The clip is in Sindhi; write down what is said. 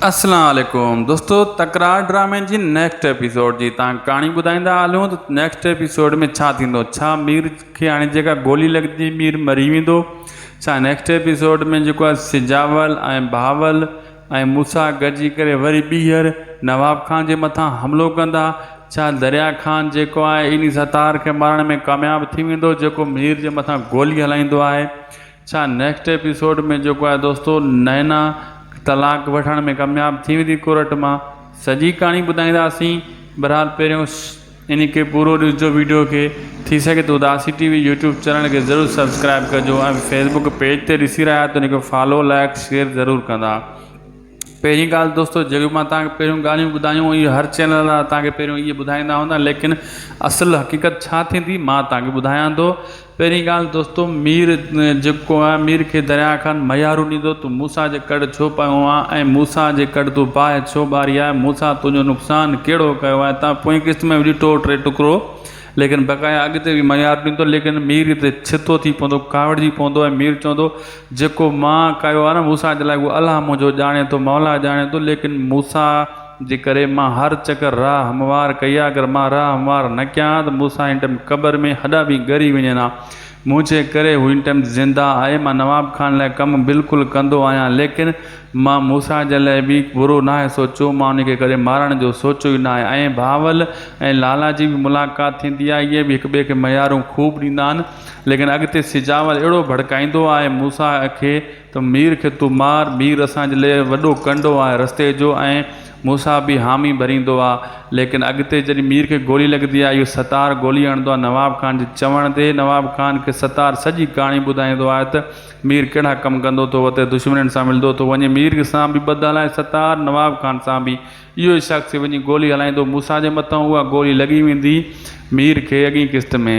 اسلام عليڪم دوستو تڪرار ڊرامي جي نيڪسٽ ايپيسوڊ جي تان ڪھاڻي ٻڌائيندا ھلون ته نيڪسٽ ايپيسوڊ ۾ ڇا ٿيندو ڇا مير کي ھاڻي جيڪا گولي لڳندي مير مري ويندو ڇا نيڪسٽ ايپيسوڊ ۾ جيڪو آھي سجاول ۽ بھاول ۽ موسا گڏجي ڪري وري ٻيھر نواب خان جي مٿان حملو ڪندا ڇا دريا خان جيڪو آھي انھي ستار کي مارڻ ۾ ڪامياب ٿي ويندو جيڪو مير جي مٿان گولي ھلائيندو آھي ڇا نيڪسٽ ايپيسوڊ ۾ جيڪو آهي دوستو نينا طلاق وٺڻ ۾ ڪامياب ٿي ويندي ڪورٽ مان سڄي ڪهاڻي ٻڌائينداسين بھرحال پهريون ان کي پورو ڏسجو ويڊيو کي ٿي سگهي ته Udasi TV YouTube channel کي ضرور سبسڪرائب ڪجو ۽ فيسبوڪ پيج تي ڏسي رهيا آهيو ته ان کي فالو لائڪ شيئر ضرور ڪندا پهرين ڳالهه دوستو جهڙيون مان توهان کي پهريون ڳالهيون ٻڌايون اهي هر چينل وارا توهان کي پهريون اهي ٻڌائيندا هوندا ليڪن اصل حقيقت ڇا ٿيندي مان توهان کي ٻڌايان ٿو پهرين ڳالهه دوستو مير جيڪو آهي مير کي درياء کان ميارو ڏيندو تون موسيٰ جي ڪڙ ڇو پيو آهي ۽ موسيٰ جي ڪڙ تون باهه ڇو ٻاري آهي موسيٰ تنهنجو نقصان ڪهڙو ڪيو آهي توهان پوئين قسط ۾ به ڏٺو هو ٽي ٽڪرو ليڪن بقايا اڳتي به ميارو ڏيندو ليڪن مير هتي ڇتو ٿي پوندو ڪاوڙجي پوندو ۽ مير چوندو جيڪو مان ڪيو آهي نه موسيٰ جي لاء اهو الله منهنجو ڄاڻي ٿو، مولا ڄاڻي ٿو، ليڪن موسيٰ جي ڪري مان هر چڪر راهه هموار ڪئي آهي، اگر مان راهه هموار نه ڪيان ها ته موسيٰ هن ٽائيم قبر ۾ هڏا به ڳري وڃن ها، منهنجي ڪري هو هن ٽائيم زنده آهي، مان نواب خان لاء ڪم بلڪل ڪندو آهيان، ليڪن مان موسيٰ جي لاء به برو ناهي سوچيو، مان ان کي ڪڏهن مارڻ جو سوچيو ئي ناهي ۽ بهاول ۽ لالا جي به ملاقات ٿيندي آهي، اهي به هڪٻئي کي ميارون خوب ڏيندا آهن. ليڪن اڳتي سجاول اهڙو ڀڙڪائيندو آهي موسيٰ کي ته مير کي تون مار، مير اسان جي لئه وڏو ڪنڊو آهي رستي جو ۽ موسيٰ به حامي ڀريندو آهي ليڪن اڳتي جڏهن مير کي گولي لڳندي آهي اهو ستار گولي هڻندو آهي نواب خان جي چوڻ تي نواب خان کي ستار سڄي ڪهاڻي ٻڌائيندو آهي ته مير ڪهڙا ڪم ڪندو ٿو وتي دشمنن سان ملندو ٿو وڃي مير سان به ٻڌل آهي ستار نواب خان سان به اهو ئي شخص ٿي وڃي گولي هلائيندو موسيٰ جي مٿان اها گولي لڳي ويندي مير کي اڳئين قسط ۾.